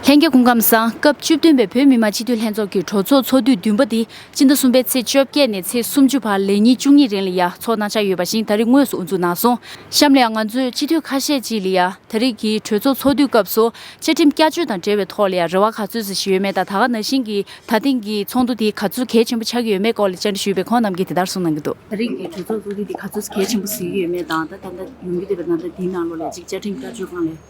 ལྷན་རྒྱས་སྐུ་ཁམས་བཟང། སྐབས་བཅུ་བདུན་པའི་བོད་མི་མང་སྤྱི་འཐུས་ལྷན་ཚོགས་ཀྱི་གྲོས་ཚོགས་ཚོགས་དུས་བདུན་པ་འདི་སྤྱི་ཟླ་གསུམ་པའི་ཚེས་བཅོ་བརྒྱད་ནས་ཚེས་སུམ་ཅུ་བར་ལས་ཉིན་བཅུ་གཉིས་རིང་ལ་ཡ་ཚོགས་གནང་འཆར་ཡོད་པ་བཞིན་ད་རེས་དངོས་སུ་དབུ་འཛུགས་གནང་སོང། གཤམ་ལ་ཡང་ང་ཚོས་སྤྱི་འཐུས་ཁ་ཤས་ཀྱིས་ལ་ཡ་ད་རེས་ཀྱི་གྲོས་ཚོགས་ཚོགས་དུས་སྐབས་སུ་བཅའ་ཁྲིམས་བསྐྱར་བཅོས་དང་འབྲེལ་བའི་ཐོག་ལ་ཡ་རེ་བ་ག་ཚོད་ཟ་ཞི་ཡོད་མེད་དང་ད་ག་ན་བཞིན་གྱི་ད་ཐེངས་ཀྱི་ཚོགས་འདུ་དེ་ག་ཚོད་གལ་ཆེན་པོ་ཆགས་ཀྱི་ཡོད་མེད་སྐོར་ལ་བཅར་འདྲི་ཞུས་པས་ཁོང་རྣམས་ཀྱིས་དེ་ལྟར་གསུངས་གནང་གི་འདུག། ད་རེས་ཀྱི་གྲོས་ཚོགས་ཚོགས་དུས་དེ་ག་ཚོད་གལ་ཆེན་པོ་ཟིན་གྱི་ཡོད་མེད་དང་ད་ད་ལྟ་ཡོང་གི་འདུག་པའི་ནང་དོན་དེའི་ནང་ལོ་ལེགས་ཀྱི་བཅའ་ཁྲིམས་བསྐྱར་བཅོས་གང་ལེགས།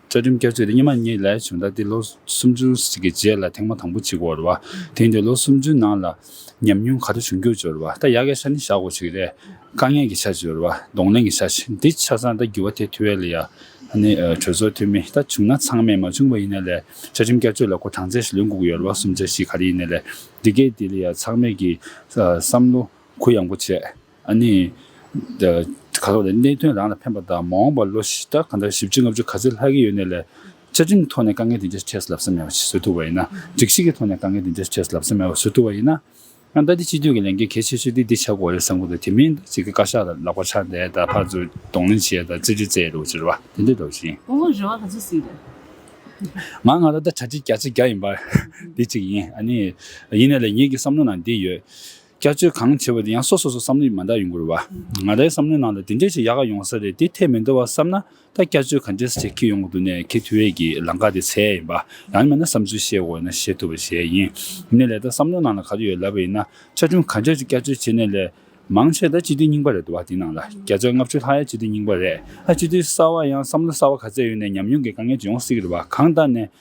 བཅའ་ཁྲིམས་བསྐྱར་བཅོས་དེ་སྙེ་མ་གཉིས་ལས་བྱུང་ད་དེ་ལོ་སུམ་ཅུ་གཅིག་གི་རྗེས་ལ་ཐེངས་མ་དང་པོ་གཅིག་བོར་བ། དེང་དུས་ལོ་སུམ་ཅུའི་ནང་ལ་ཉམས་མྱོང་ག་ཚོད་བྱུང་རྒྱུར་འབྱོར་བ་ད་ཡ་གའི་ཆ་ནི་བཞག་དགོས་ཆེ་གི་རེད། དཀའ་ངལ་གྱི་ཆ་འབྱོར་བ་གདོང་ལེན་གྱི་ཆ་འདི་ཆ་ཚང་ད་འགྱུར་བ་དེ་ཐུ་བྷེ་ལི་ཡ་ནི་གྲོས་ཚོགས་འཐུས་མི་ད་བྱུང་ན་ཚང་མས་མ་བྱུང་བ་ཡིན་ན་ལས་བཅའ་ཁྲིམས་བསྐྱར་བཅོས་ལ་སྒོ་གྲངས་ཚད་ལོན་གུག་ཡོར་བ་གསུམ་ཆ་བཞི་ག་རེ་ཡིན་ན་ལས་འདི་གས་འདི་ལི་ཡ་ཚང་མས་ཀྱི་བསམ་བློ་གུ་ཡངས་པོ་བྱས། ཨ་ནི། ག་ལོག་ལས་གནད་དོན་རང་ལ་ཕན་པ་དང་མ་འོངས་པར་ལོ་ཞེ་ལྟར་གང་ལྟར་ཞིབ་ཕྲའི་ལྔ་བཅུ་ག་ཚོད་ལྷག་གི་ཡོད་གནས་ལས། བཅའ་ཁྲིམས་ཐོག་ནས་དཀའ་ངལ་དེ་འདྲ་འཕྲད་སུ་ལབ་ས་མེད་པ་ཞིག་བཟོ་ཐུབ་པ་ཡིན་ན། སྒྲིག་གཞི་གི་ཐོག་ནས་དཀའ་ངལ་དེ་འདྲ་འཕྲད་སུ་ལབ་ས་མེད་པ་བཟོ་ཐུབ་པ་ཡིན་ན། ཡང་ལྟ་དེ་སྤྱི་འཐུས་ཀྱི་ལས་འགན་གལ་ཆེ་ཤོས་དེ་འདི་ཆགས་དགོས་རེད་བསམ་ཁོ་ཐག་དེ་མིན་ཞིག་གིས་བཀའ་ཤག་ལ་ལག་པ་འཕྱར་བསྡད་དང་ཕར་ཚུར་གདོང་ལེན་བྱས་དང་ཙིར་ཙིར་བཙལ་ཡོད་རེད་འོ་ཅོ་རེད་བ་དེ་འདྲས་འདོགས་ཤིང། ཁོང་ལོ་རེ་བ་ག་ཚོད་སྲིད་རེད། ང་སྔ་ལོ་ཟླ་གྲ་ཁྲི་བརྒྱ་ཆ་བརྒྱ་ཡིན་པར་དེ་གཅིག་ཡིན། ཨ་ནི། ཡིན་ནས་ལས་ངེད་ཀྱི་བསམ་བློ་ནང་འདི་ཡོད། བསྐྱར་བཅོས་གང་བྱེད་པ་དེ་ཡང་སོ་སོ་སོ་བསམ་བློ་ཡིས་མ་འདང་ཡོང་དགོས་རེད་བ། ང་རའི་བསམ་བློའི་ནང་ལ་དེ་འདྲའི་ཞིག་ཡག་ག་ཡོང་ས་རེད་དེ་ཐད་མི་འདོར་བ་བསམ་ན་ད་བསྐྱར་བཅོས་ག་འདྲས་བྱེད་ཁི་ཡོང་གི་འདུག་ནས་ཁི་དུས་བས་ཀྱི་ལང་ཀ་དེ་ཚད་ཡིན་པ་ཡང་མིན་ན་བསམ་ཚུལ་བཤད་དགོས་ན་བཤད་ཐུབ་པ་ཞེ་ཡིན། ནས་ལས་ད་བསམ་བློའི་ནང་ལ་ག་དུས་ཡོད་ལབ་པ་ཡིན་ན་བཅའ་ཁྲིམས་ག་འདྲས་ཞིག་བསྐྱར་བཅོས་བྱེད་ནས་ལས། མང་ཆེ་ད་སྤྱི་འཐུས་རྙིང་པ་རེད་འདུག་བ་དེ་ནང་ལ་བརྒྱ་ཆ་ལྔ་བཅུ་ལྷག་ཡང་སྤྱི་འཐུས་རྙིང་པ་རེད་ཨ་སྤྱི་འཐུས་གསར་བ་ཡང་བསམ་བློ་གསར་བ་ག་ཚད་ཡོད་ནས་ཉམས་མྱོང་གི་དཀའ་ངལ་ཅིག་ཡོང་སྲིད་ཀྱི་རེད་བ་གང་ལྟར་ནས་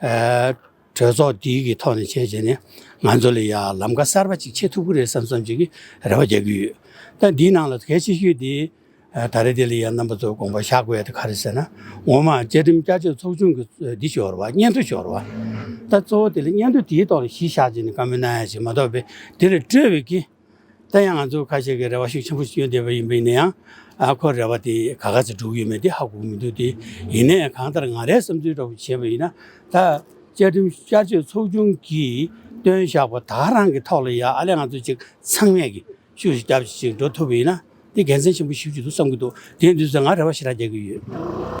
གྲོས་ཚོགས་འདི་གི་ཐོག་ནས་བྱས་རྗེས་ནས་ང་ཚོ་ལ་ཡང་ལམ་ཁ་གསར་པ་གཅིག་ཕྱེ་ཐུབ་ཀྱི་རེད་བསམ་བསམ་བྱེད་ཀྱི་རེ་བ་རྒྱག་གི་ཡོད། ད་འདིའི་ནང་ལ་གལ་ཆེ་ཤོས་དེ་ད་རེས་དེ་ལ་ཡང་རྣམ་པ་ཚོས་དགོངས་པ་བཞག་དགོས་དེ་ག་རེ་ཟེར་ན་ངོ་མ་བཅའ་ཁྲིམས་བསྐྱར་བཅོས་ཚོགས་ཆུང་གི་འདི་ཤོར་བ་སྙན་ཐོ་ཤོར་བ། ད་གཙོ་བོ་དེ་ལ་སྙན་ཐོ་དེའི་ཐོག་ལ་གཞི་བཞག་རྗེས་ནས་བཀའ་མོལ་གནང་ཡག་ཞིག་མ་གཏོགས་པས་དེ་ལ་སྤྲོད་པའི་དགེ་ད་ཡང་ང་ཚོར་ཁ་ཤས་ཀྱིས་རེ་བ་ཤུགས་ཆེན་པོ་ཞིག་ཡོད་བསྡད་པ་ཡིན་པས་ཡིན་ཡང། ཁོ་རེ་བ་དེ་ག་ག་ཚོད་འགྲུབ་ཡོད་མེད་དེ་ཧ་གོ་མི་འདུག་སྟེ། ཡིན་ནའི་གང་ལྟར་ང་རའི་བསམ་ཚུལ་ལྟ་བུ་བྱས་པ་ཡིན་ན། ད་བཅའ་ཁྲིམས་བསྐྱར་བཅོས་ཚོགས་ཆུང་གིས་བཏོན་བཞག་པ་དག་རང་གི་ཐོག་ལ་ཡང་ཨ་ལས་ང་ཚོ་ཅིག་ཚང་མས་ཀྱིས་ཤུགས་ཤིག་རྒྱབ་ཅིག་འགྲོ་ཐུབ་པ་ཡིན་ན། དེ་དགེ་མཚན་ཆེན་པོ་ཞིག་བྱེད་ཐུབ་བསམ་གྱི་འདུག་དེའི་མདུན་སར་ང་རེ་བ་ཞེ་དྲག་རྒྱག་གི་ཡོད།